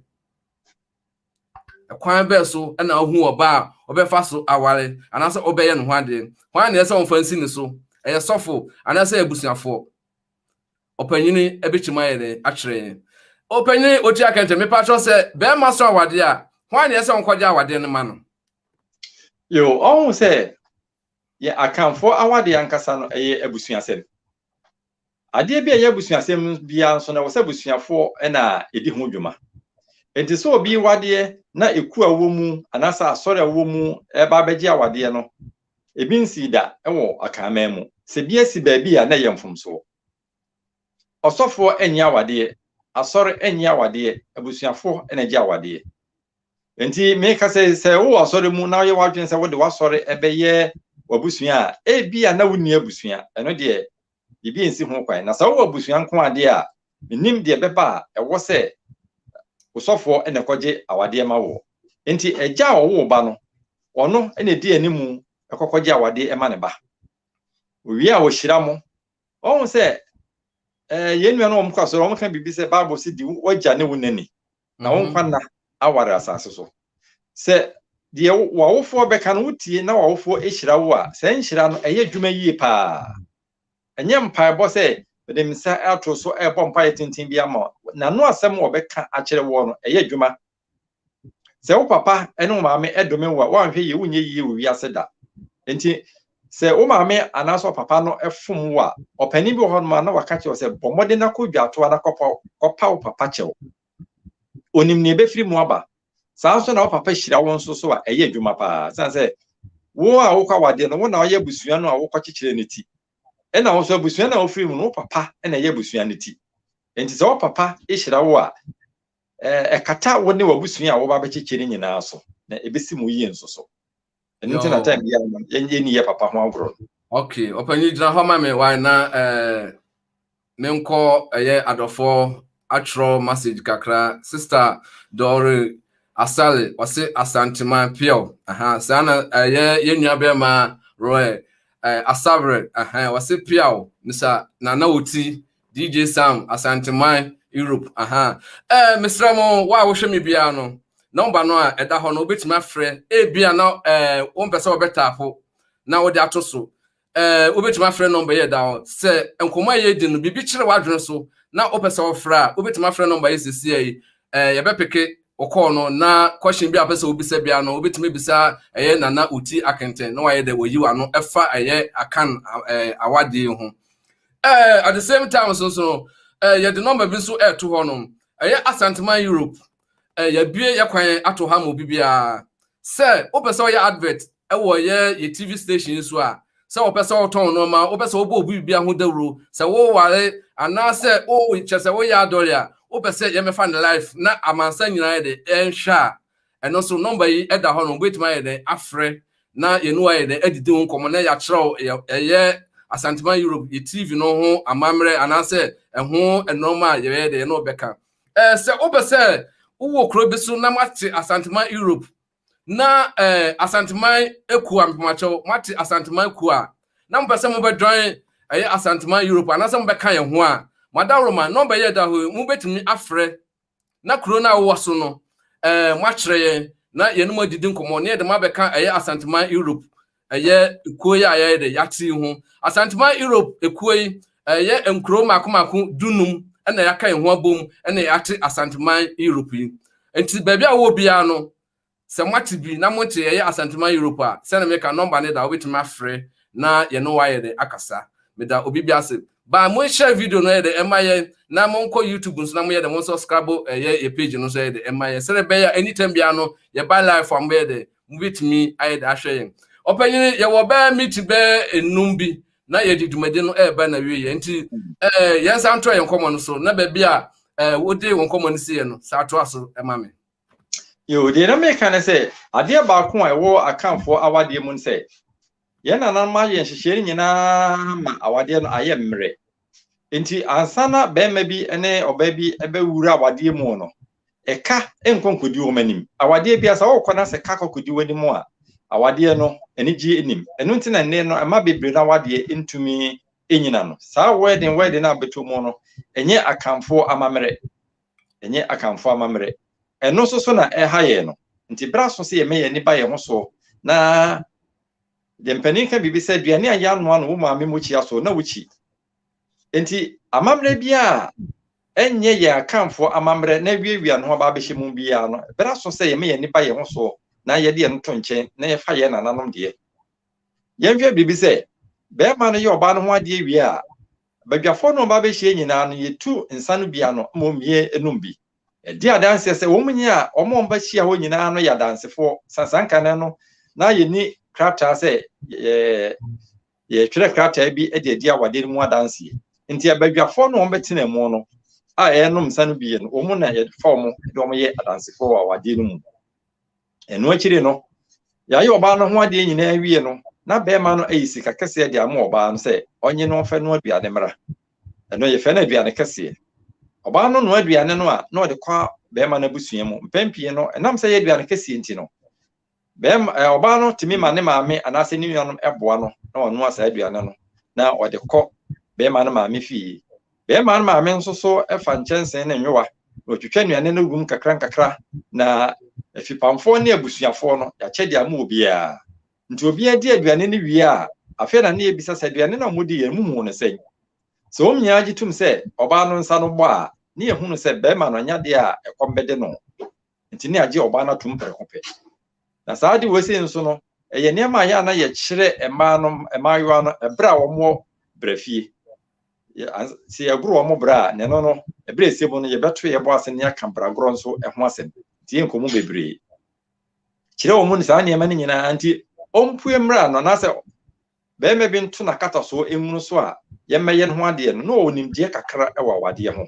Ɛkwan bɛɛ so ɛna ɔhu ɔbaa a ɔbɛfa so aware anaasɛ ɔbɛyɛ ne ho adeɛ? Hwan na ɛsɛ sɛ ɔmfa nsi ne so? Ɛyɛ sɔfo anaasɛ abusuafoɔ? Ɔpanyini ɛbɛkyim ayɛ dɛ akyerɛ yɛn. Ɔpanyini ɔti akɛntɛ mepa kyɛw sɛ bɛrima so awadeɛ a hwan na ɛsɛ sɛ ɔnkɔgye awadeɛ no ma no? Yo, ɔhu sɛ Yɛn Akanfoɔ awadeɛ ankasa no ɛyɛ abusuasɛm. Adeɛ bi a ɛyɛ abusuasɛm biara nso no ɛwɔ sɛ abusuafoɔ na ɛdi ho dwuma. Enti sɛ obi wadeɛ na ɛku a wɔ mu anaasɛ asɔre a wɔ mu ɛba abɛgye awadeɛ no, ebi nsii da wɔ Akanman mu. Sɛ bi asi baabi a na ɛyɛ mfomsoɔ. Ɔsɔfoɔ nnye awadeɛ, asɔre nnye awadeɛ, abusuafoɔ na ɛgye awadeɛ. Enti meka sɛ sɛ wowɔ asɔre mu na woyɛ w'adwene sɛ wode w'asɔre bɛyɛ w'abusua a, ebia na wonni abusua, ɛno deɛ biribi nsi ho kwan. Na sɛ wowɔ abusua nko adeɛ a, menim deɛ ɛbɛba a ɛwɔ sɛ osɔfoɔ na ɛkɔgye awadeɛ ma woɔ. Enti agya a ɔwoo ba no, ɔno na ɛdi anim kɔkɔgye awadeɛ ma ne ba. Owie a ɔhyira mo Wɔn sɛ ɛɛ yɛn nua no wɔn kɔ asɔre wɔn ka biribi sɛ Bible si di wɔgya ne wo nani na wɔn nkwa nna aware asase so. Sɛ deɛ w'awofoɔ bɛka no wotie na w'awofoɔ hyira wo a, saa nhyira no ɛyɛ adwuma yie paa. Ɛnyɛ mpaebɔ sɛ mede me nsa ato so ɛrebɔ mpaeɛ tenten bi ama n'ano asɛm wɔbɛka akyerɛ woɔ no ɛyɛ adwuma sɛ wo papa ne wo maame dome wo a woanhwɛ yie wonyɛ yie wɔ wiase da nti sɛ wo maame anaasɛ ɔpapa no fom wo a ɔpanin bi wɔ hɔ noma na waka kyerɛ sɛ bɔ mmɔden na kɔ dwatoa na kɔpa kɔpa wo papa kyɛw onim nea ebɛfiri mu aba saa nso na wo papa hyira wo nso so a ɛyɛ adwuma paa sane sɛ wo a wokɔ awadeɛ no wo na ɔyɛ abusua no a wokɔkyekyerɛ no ti ɛna wo nso abusua no a wofiri mu no wo papa na ɛyɛ abusua no ti nti sɛ wo papa hyira wo a Ɛkata wo ne w'abusua a woba bɛkyekye no nyinaa so, na ebesi mo yie nso so. Ɛno nti na time biara no yɛnyɛ ni yɛ papa ho agorɔ no. Okay, ɔpanyin gyina hɔ ma me why na eh menkɔ ɛyɛ eh, adɔfoɔ atwerɛ message kakra sister Dɔre Asale ɔse Asanteman Piaw aha saa na ɛyɛ eh, yɛn nua bɛrima Roy eh, Asabre aha ɔse Piaw misa Nana Oti DJ Sam, Asanteman, Europe, aha. Eh, mesrɛ mo, wo a wohwɛ me biara no, nɔmba no a ɛda hɔ no, wobɛtumi afrɛ. Ebia na eh, wompɛ sɛ wɔbɛtaapo na wode ato so. Eh, wobɛtumi afrɛ nɔmba yi ɛda hɔ. Sɛ nkɔmmɔ a yɛredi no, biribi kyerɛ w'adwene so na wopɛ sɛ wɔfrɛ a, wobɛtumi afrɛ nɔmba yi sesia yi. Eh, yɛbɛpeke wo kɔɔ no na question bi a wopɛ sɛ wobisa biara no, wobɛtumi bisa ɛyɛ Nana Oti Akenten na wayɛ dɛ wɔyi w'ano ɛfa ɛyɛ akan eh, awadeɛ ho. Eh, at the same time nso nso no eh, yɛde nɔmba bi nso ɛreto hɔ no ɛyɛ asanteman europe eh, yɛabue yɛ kwan ato ha ma obi biara sɛ wopɛ sɛ ɔyɛ advert ɛwɔ yɛ yɛ tv station yi so a sɛ wɔpɛ sɛ wɔtɔn nneɛma wopɛ sɛ wɔbɔ obi biribi ho dawuro sɛ woware anaasɛ wokyɛ sɛ woyɛ adɔre a wopɛ sɛ yɛmɛfa ne life na amansa nyinaa de ɛnhwɛ a Ɛno nso, nɔmba yi da hɔ no, wobetumi ayɛ dɛn afrɛ na yɛne wo ayɛ dɛn adidi ho nkɔmmɔ na yɛakyerɛw ɛyɛ Asanteman Europe yɛ TV no ho amammerɛ anaasɛ ɛho nnoɔma a yɛbɛyɛ dɛn yɛne wo bɛka. Sɛ wopɛ sɛ wowɔ kuro bi so na moate Asanteman Europe na Asanteman kuo a, mpemakyɛw, moate Asanteman kuo a, na mopɛ sɛ mobɛdwan ɛyɛ Asanteman Europe anaasɛ mobɛka yɛn ho a, mo adaworoma, nɔmba yi a ɛda hɔ yi, mobetumi afrɛ na kuro no a wowɔ so no ɛɛ moakyerɛ yɛn na yɛne mo adidi nkɔmmɔ na yɛde mo abɛka ɛyɛ asanteman europe ɛyɛ ekuo yi a yɛyɛ de yɛate yi ho asanteman europe ekuo yi ɛyɛ nkuro mako mako dunum ɛna yɛaka yɛn ho abom ɛna yɛate asanteman europe yi nti baabi a wowɔ biara no Sɛ moate bi na mote yɛyɛ Asanteman Europe a, sɛnea meka no nɔmba no da a wobɛtumi afrɛ na yɛne wo ayɛ dɛn akasa. Meda obi bi ase. Baa mo nhyɛ video no ɛyɛ dɛn ɛma yɛn na monkɔ YouTube nso na moyɛ dɛn monsɔ scrabble ɛyɛ yɛ page no nso ɛyɛ dɛn ɛma yɛn sɛnea ɛbɛyɛ a anytime biara no yɛba life a mobɛyɛ dɛn mobɛtumi ayɛ dɛn ahwɛ yɛn. Ɔpanyini yɛwɔ bɛyɛ meeting bɛyɛ nnum bi na yɛde dwumadi no ɛreba na wie yɛ nti ɛɛ yɛn nsa ntoa yɛn nkɔmmɔ no so na baabi a ɛɛ wode wo nkɔmmɔ no si yɛ no saa toa so ɛma me. Yo, deɛ na meka ne sɛ, adeɛ baako a ɛwɔ akanfoɔ awadeɛ mu ne sɛ, yɛn nananom ayɛ nhyehyɛe no nyinaa ma awadeɛ no ayɛ mmerɛ. Nti ansa na bɛrima bi ne ɔbaa bi bɛwura awadeɛ mu no, ɛka nkɔ nkɔdi wɔn anim. Awadeɛ bi asa wɔkɔ na sɛ ka kɔ kɔdi wɔn anim a, awadeɛ no anigye anim. Ɛno nti na nnɛ no ɛma bebree no awadeɛ ntumi nyina no. Saa wɛden wɛden a bɛtɔ mu no, ɛnyɛ akanfoɔ amammerɛ. Ɛnyɛ Akanfoɔ amammerɛ. Ɛno nso so na ɛreha yɛn no. Nti berɛ aso sɛ yɛmɛ yɛn ani ba yɛn ho so na deɛ mpanin ka biribi sɛ aduane a yɛanoa no wo maame mokyia so na wokyi. Nti amammerɛ biara ɛnyɛ yɛn Akanfoɔ amammerɛ na awiawia no ho aba abɛhyɛ mu biara no, berɛ aso sɛ yɛmɛ yɛn ani ba yɛn ho so na yɛde yɛn to nkyɛn na yɛfa yɛn nananom deɛ. Yɛnhwɛ biribi sɛ, bɛrima no yɛ ɔbaa no ho adeɛ wie a, Badwafoɔ no a wɔba bɛhyia nyinaa no, yɛtu nsã no bi ano, mmom yɛnnom bi. Yɛdi adanseɛ sɛ wɔn nyinaa a wɔn a wɔba hyia hɔ nyinaa no yɛ adansefoɔ. Sansan ka nnɛ no, na yɛnni krataa sɛ yɛretwerɛ krataa bi de adi awadeɛ no mu adanseɛ. Nti abadwafoɔ no a wɔbɛtena mu no a yɛnom nsã no bi no, wɔn na yɛfa wɔn de wɔn yɛ adansefoɔ wɔ awadeɛ no mu. ɛno akyiri no yɛayɛ ɔbaa no ho adeɛ nyinaa wie no na bɛrima no ayi sika kɛseɛ de ama ɔbaa no sɛ ɔnye no mfɛ no aduane mmra ɛno yɛfɛ no aduane kɛseɛ ɔbaa no no aduane no a na ɔde kɔ bɛrima no abusua mu mpɛn pii no ɛnam sɛ yɛ aduane kɛseɛ nti no bɛrima ɔbaa no tumi ma ne maame anaasɛ ne nuanom ɛboa no na ɔnoa saa aduane no na ɔde kɔ bɛrima no maame fie Bɛɛma no maame nso so fa nkyɛnsee ne nyowa na ɔtwitwa nnuane no gum nkakra nkakra, na afipamfoɔ ne abusuafoɔ no, yɛakyɛ de ama obiara. Nti obiara di aduane no wie a, afei na na yɛbisa sɛ, Aduane no a modi yɛn, muhuu no sɛn? Sɛ wɔn nyinaa gye tom sɛ ɔbaa no nsa no bɔ a, na yɛhunu sɛ bɛɛma no anya adeɛ a ɛkɔm bɛde no. Enti na yɛagye ɔbaa no atom prɛko pɛ. Na saa ade wei sei nso no, ɛyɛ nneɛma a yɛ a na yɛkyerɛ mmaa no, mmaayewa no, ɛberɛ a wɔwɔ bra fie. Sɛ yɛgoro wɔn bra a, na ɛno no, ɛberɛ ɛsɛ mu no, yɛbɛto yɛbɔ ase ne yɛaka bragorɔ nso ho asɛm. Nti yɛ nkɔmmɔ bebree. Kyerɛ wɔn ne saa nneɛma no nyinaa nti ɔmpue mmra no anaasɛ bɛrima bi nto n'akatasoɔ nwunu so a yɛmmɛyɛ no ho adeɛ no, na ɔwɔ nimdeɛ kakra wɔ awadeɛ ho.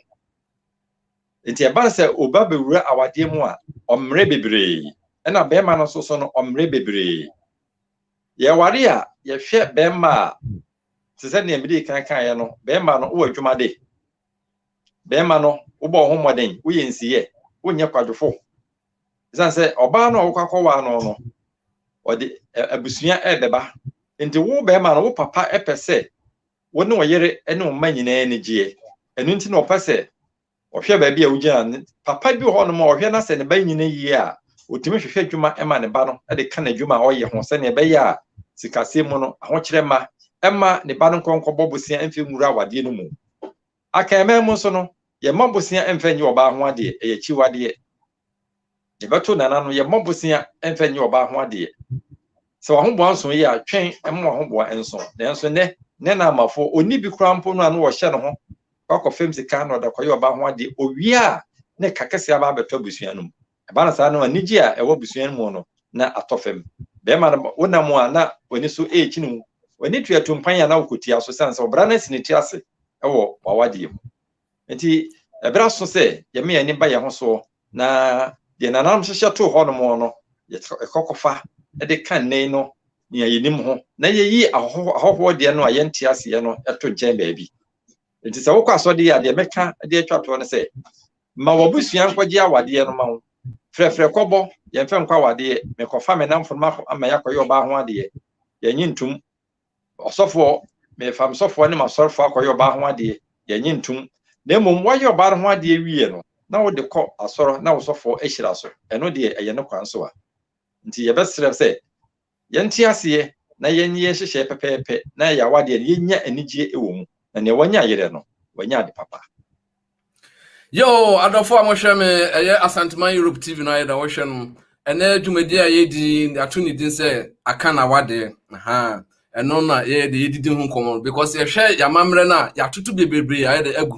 Nti ɛba sɛ oba bɛwura awadeɛ mu a, ɔmmrɛ bebree. Ɛna bɛɛma no nso so no, ɔmmrɛ bebree. Yɛware a, yɛhwɛ bɛɛma a, te sɛ nea mede kan kaeɛ no, bɛɛma no, wowɔ adwuma de. Bɛɛma no, wobɔ wo ho mmɔden, woyɛ nsiyɛ, wonyɛ kwadwofo. Ɛsiane sɛ ɔbaa no a wokɔ akɔwaa no no, ɔde abusua ɛrebɛba. Nti wo bɛɛma no, wo papa pɛ sɛ wo ne wo yere ne wo mma nyinaa ani gyeɛ. Ɛno nti na ɔpɛ sɛ ɔhwɛ baabi a wogyina no. Papa bi wɔ hɔnom a ɔhwɛ na sɛ ne ba nyina yie a, ɔtumi hwehwɛ adwuma ma ne ba no de ka n'adwuma a ɔyɛ ho sɛdeɛ ɛbɛyɛ a sikasɛm mu no, ahokyerɛ mma ɛmma ne ba no nkɔ nkɔbɔ bosea mfa nwura awadeɛ no mu. Akanman mu nso no, yɛmma bosea mfa nnyɛ ɔbaa ho adeɛ, ɛyɛ akyiwadeɛ. Yɛbɛto nana no, yɛmmɔ bosea mfa nyɛ ɔbaa ho adeɛ. Sɛ w'ahoboa nso yɛ a, twɛn ma w'ahoboa nso. Nanso nnɛ, nana amafoɔ, ɔnni bi koraa mpo no a na wɔhyɛ ne ho kɔ akɔfam sika na ɔde akɔyɛ ɔbaa ho adeɛ. Ɔwie a, na ɛka kɛseɛ aba abɛtɔ abusua no mu. Ɛba no saa no, anigyeɛ a ɛwɔ abusua no mu no, na atɔ fam. Bɛrima no, wonam a, na w'ani so rekyini wo. W'ani tua tumpan a, na wokɔtua so, ɛsiane sɛ wɔbra no asi ne ti ase wɔ w'awadeɛ mu. Enti ɛberɛ aso sɛ yɛma yɛn ani ba yɛn ho soɔ, na deɛ nananom hyehyɛ too hɔ nom no, yɛkɔ kɔfa de ka nnɛyi no nea yɛnim ho, na yɛyi ahɔhoɔ deɛ no a yɛnte aseɛ no to nkyɛn baabi. Enti sɛ wokɔ asɔdeɛ a, deɛ mɛka de atwa toɔ no sɛ, ma w'abusua nkɔgye awadeɛ no ma wo, frɛfrɛ kɔbɔ, yɛmfa nkɔ awadeɛ, mekɔfa me namfo no ma ama yɛakɔyɛ ɔbaa ho adeɛ, yɛnye ntom. Ɔsɔfoɔ, merefa me sɔfoɔ ne m'asɔrefoɔ akɔyɛ ɔbaa ho adeɛ, deɛ nnye ntom, na mmom woayɛ ɔbaa no ho adeɛ wieɛ no, na wode kɔ asɔre na wo sɔfoɔ ahyira so, ɛno deɛ ɛyɛ ne kwan so a. Nti yɛbɛsrɛ sɛ yɛnte aseɛ na yɛnyɛ yɛn nhyehyɛeɛ pɛpɛɛpɛ na ɛyɛ awadeɛ no yɛnya anigyeɛ wɔ mu, na nea wanya yerɛ no, wanya ade papa. Yo, adɔfo a mohwɛ me, ɛyɛ Asanteman Europe TV no ayɛ da wohwɛ no. Ɛnɛ dwumadi a yɛdi ato ne din sɛ aka na wade. Aha. Ɛno na yɛyɛ de yɛdidi ho nkɔmmɔ no because yɛhwɛ yɛamammerɛ no a yɛatoto bebrebe ayɛ de agu.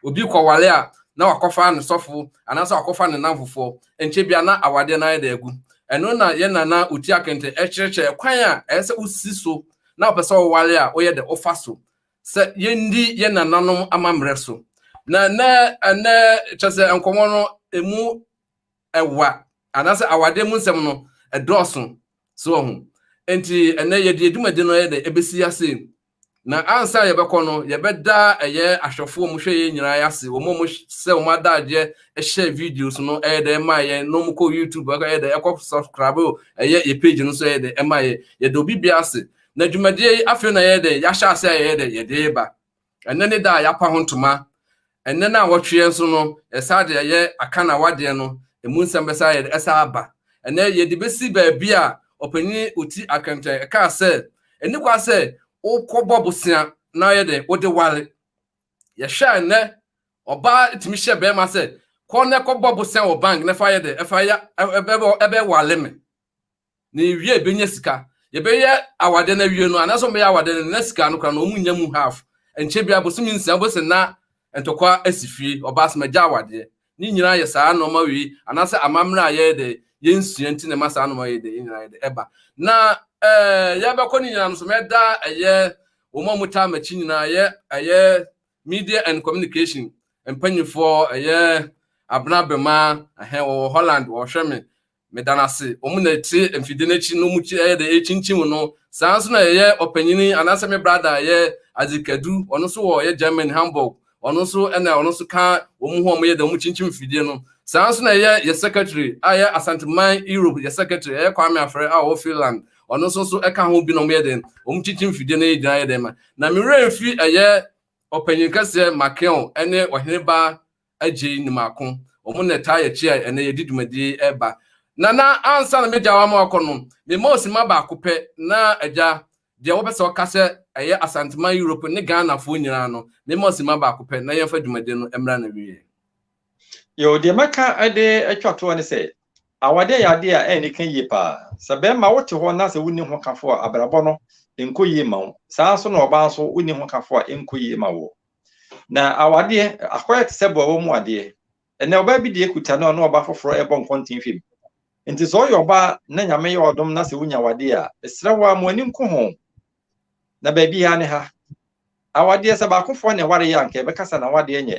Obi kɔwale a na wakɔfa ne sɔfo anaasɛ wakɔfa ne namfofoɔ. Ɛnkyɛ bia na awadeɛ no ayɛ de agu. Ɛno na yɛn nana Oti Akente ɛkyerɛkyerɛ ɛkwan a ɛyɛ sɛ wosi so na wopɛ sɛ wowale a woyɛ de wofa so. sɛ yɛndi yɛn nananom amammerɛ so. Na nnɛ ɛnnɛ kyɛ sɛ nkɔmmɔ no ɛmu ɛwa anaasɛ awadeɛ mu nsɛm no ɛdɔɔso so wɔ ho. Enti ɛnnɛ yɛde adwumadi no yɛ dɛ ɛbɛsi ase. Na ansa a yɛbɛkɔ no, yɛbɛda ɛyɛ ahwɛfoɔ mu hwɛ yɛn nyinaa ase, wɔn a wɔsɛ wɔn adagyeɛ hyɛ videos no ɛyɛ dɛ ɛma yɛn, na wɔkɔ YouTube ɛyɛ dɛ ɛkɔ subscribe ɛyɛ yɛ page no so ɛyɛ dɛ ɛma yɛn. Yɛda obi biara ase Na dwumadie yi afei na yɛyɛ dɛn? Yɛahyɛ ase a yɛyɛ dɛn? Yɛde reba. Ɛnɛ ne da a yɛapa ho ntoma. Ɛnɛ na awɔtweɛ nso no, yɛsan de ɛyɛ aka na wadeɛ no, ɛmu nsɛm bɛsan yɛ dɛn? Ɛsan aba. Ɛnɛ yɛde bɛsi baabi a ɔpanin ɔti akɛntɛn ɛkaa sɛ, ɛni kwa sɛ wokɔbɔ bosea na yɛ dɛn? Wode ware. Yɛhwɛ a ɛnɛ ɔbaa tumi hyɛ bɛrima sɛ, kɔ na kɔbɔ bosea wɔ bank na fa yɛ dɛn? Ɛfa yɛ, ɛbɛware me. Na ewie a ebenya sika. Yɛbɛyɛ awadeɛ no awie no, anaasɛ wɔbɛyɛ awadeɛ no na sika no koraa no wɔnnya mu half. Ɛnkyɛ biara bosome nsia wobɛhu sɛ na ntɔkwa asi fie, ɔbaa sɛ magya awadeɛ. Ne nyinaa yɛ saa nnoɔma wei anaasɛ amammerɛ a yɛyɛ dɛ yɛnsua nti na ɛma saa nnoɔma wei dɛ yɛn nyinaa yɛ dɛ ɛba. Na ɛɛ yɛbɛkɔ no nyinaa no nso mɛda ɛyɛ wɔn a wɔtaa m'akyi nyinaa ɛyɛ ɛyɛ media and communication mpanyinfoɔ ɛyɛ Abena Bema ɛhɛn wɔwɔ Holland wɔhwɛ me Meda no ase, wɔn na ɛte mfide no akyi no, wɔn yɛ dɛ ɛrekyinkyim no. Saa nso na ɛyɛ ɔpanyin anaasɛ me brada a ɛyɛ Isaac Kadu, ɔno nso wɔ ɔyɛ Germany, Hamburg, ɔno nso ɛna ɔno nso ka wɔn ho a wɔyɛ dɛ wɔkyinkyim mfidie no. Saa nso na ɛyɛ yɛ secretary a ɛyɛ Asanteman Europe yɛ secretary, ɛyɛ Kwame Afrɛ a ɔwɔ Finland, ɔno nso nso ɛka ho bi na wɔyɛ dɛ wɔkyinkyim mfidie no gyina yɛ dɛ ma. Na me werɛ mfi ɛyɛ ɔpanyin kɛseɛ Makeon ne Ɔhene Ba agye ne mako. Wɔn na ɛtaa yɛ akyi a ɛnnɛ yɛde dwumadi yi reba. Na na ansa na m'agya ama wakɔ no, me mma ɔsimma baako pɛ na agya deɛ wɔpɛ sɛ wɔka sɛ ɛyɛ Asanteman Europe ne Ghanafoɔ nyinaa no, me mma ɔsimma baako pɛ na yɛmfa dwumadi no mmra n'awieɛ. Yoo, deɛ mɛka de atwa toɔ ne sɛ, awadeɛ yɛ adeɛ a ɛnni ka yie paa. Sɛ barima wote hɔ na sɛ wonni hokafo a, abrabɔ no nkɔ yie mma wo. Saa ara nso na ɔbaa nso wonni hokafo a ɛnkɔ yie mma woɔ. na awadeɛ akɔyɛ te sɛ boa wɔ mu adeɛ ɛnɛ ɔbaa bi deɛ kuta no ɔno ɔbaa foforɔ ɛbɔ nkɔnten fam nti sɛ ɔyɛ ɔbaa na nyame yɛ ɔdom na sɛ wonya wadeɛ a ɛsrɛ wo a mo ani nko ho na baabi ha ne ha awadeɛ sɛ baakofoɔ na ɛware yɛ anka ɛbɛkasa na wadeɛ nyɛ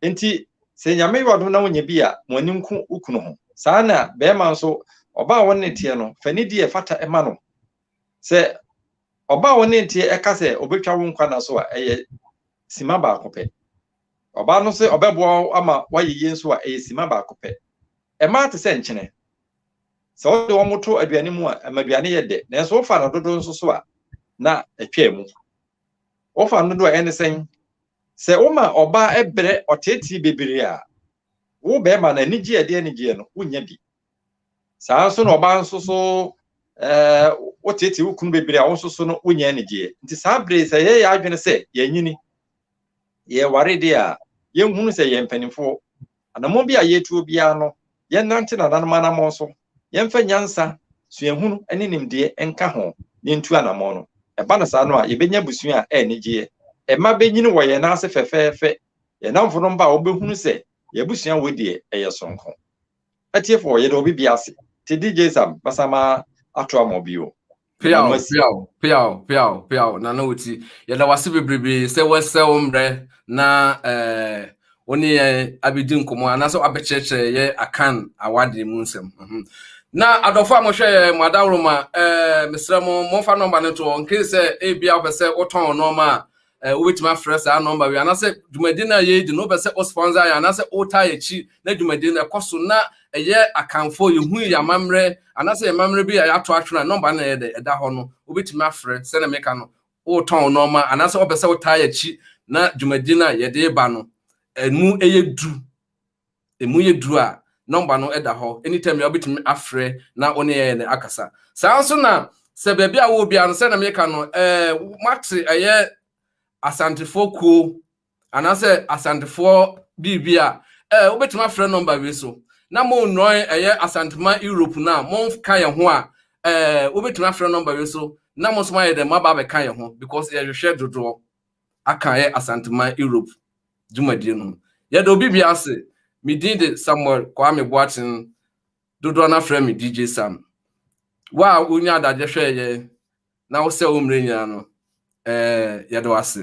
nti sɛ nyame yɛ ɔdom na wonya bi a mo ani nko wokunu ho saa na bɛrima nso ɔbaa wɔn ne teɛ no fa ne di ɛfata ɛma no Sɛ ɔba a wo ne nteɛ ɛka sɛ ɔbɛtwa wo nkwa na so a, ɛyɛ sima baako pɛ. Ɔbaa no sɛ ɔbɛboa wo ama woayɛ yie nso a, ɛyɛ sima baako pɛ. Mmaa te sɛ nkyene. Sɛ wode wɔn to aduane mu a, ɛma aduane yɛ dɛ. Nanso wofa no dodo nso so a, na ɛtwaa mu. Wofa no dodo a ɛne sɛn? Sɛ woma ɔbaa ɛbrɛ ɔteetee bebree a, wo bɛrima no anigyeɛ ɛde anigyeɛ no, wonnya bi. saa nso na ɔbaa nso so ɛɛ woteetee wo kunu bebree a wo nso so no wonya anigyeɛ nti saa bere sɛ yɛyɛ adwene sɛ yɛanyini yɛware deɛ a yɛnhunu sɛ yɛn mpanimfoɔ anammɔn bi a yɛtuo biara no yɛnnante nananom anammɔn so yɛmfa nyansa suahunu ne nimdeɛ nka ho na yɛntu anammɔn no ɛba no saa no a yɛbɛnya abusua a ɛyɛ anigyeɛ ɛma bɛnyini wɔ yɛn nan ase fɛfɛɛfɛ yɛn namfo no mba a wɔbɛhunu sɛ yɛn abusua wɔ deɛ ɛyɛ sonko Atiefo yɛde obi bi ase. Te DJ Sam basa ma ato ama obi o. Peaw peaw peaw peaw peaw na na oti. Yɛda wase bebrebe sɛ wɔsɛ wo mbrɛ na eh wo ne yɛn abedi nkɔmɔ anaasɛ abɛkyerɛkyerɛ yɛ akan awade mu nsɛm. Mhm. Na adɔfo a mohwɛ yɛ mo adaworo ma eh mesrɛ mo momfa nɔmba no to hɔ nkee sɛ ebia wopɛ sɛ wotɔn nɔɔma a Eh, wobɛtumi afrɛ saa nɔmba wei anaasɛ dwumadi no a yɛredi no wopɛ sɛ wo sponsor yɛ anaasɛ wotaa yɛakyi na dwumadi no ɛkɔ so na ɛyɛ akanfoɔ yɛhu yɛ amammerɛ anaasɛ yɛ amammerɛ bi a yɛato atwene a nɔmba no ɛyɛ dɛ ɛda hɔ no wobɛtumi afrɛ sɛdeɛ meka no wotɔn nɔɔma anaasɛ wopɛ sɛ wotaa yɛakyi na dwumadi no a yɛde ba no ɛmu ɛyɛ du Emu yɛ duru a, nɔmba no da hɔ, anytime biara wobɛtumi afrɛ na wo ne yɛn ne akasa. Saa ara nso na sɛ baabi a wowɔ biara no, sɛdeɛ meka no, eh, moate ɛyɛ Asantefoɔ kuo anaasɛ Asantefoɔ biribi a, eh, wobɛtumi afrɛ nɔmba wei so. Na monnɔn ɛyɛ Asanteman Europe no a, monka yɛn ho a, eh, wobɛtumi afrɛ nɔmba wei so na mo nso moayɛ dɛn, moaba abɛka yɛn ho because yɛhwehwɛ dodoɔ aka ɛyɛ Asanteman Europe. dwumadie no mu. Yɛda obi biara ase. Me din de Samuel Kwame Boakyen, dodoɔ no ara frɛ me DJ Sam. Wo a wonya adagye hwɛɛ yɛn na wosɛ wo mmerɛ nyinaa no, ɛɛ yɛda wo ase.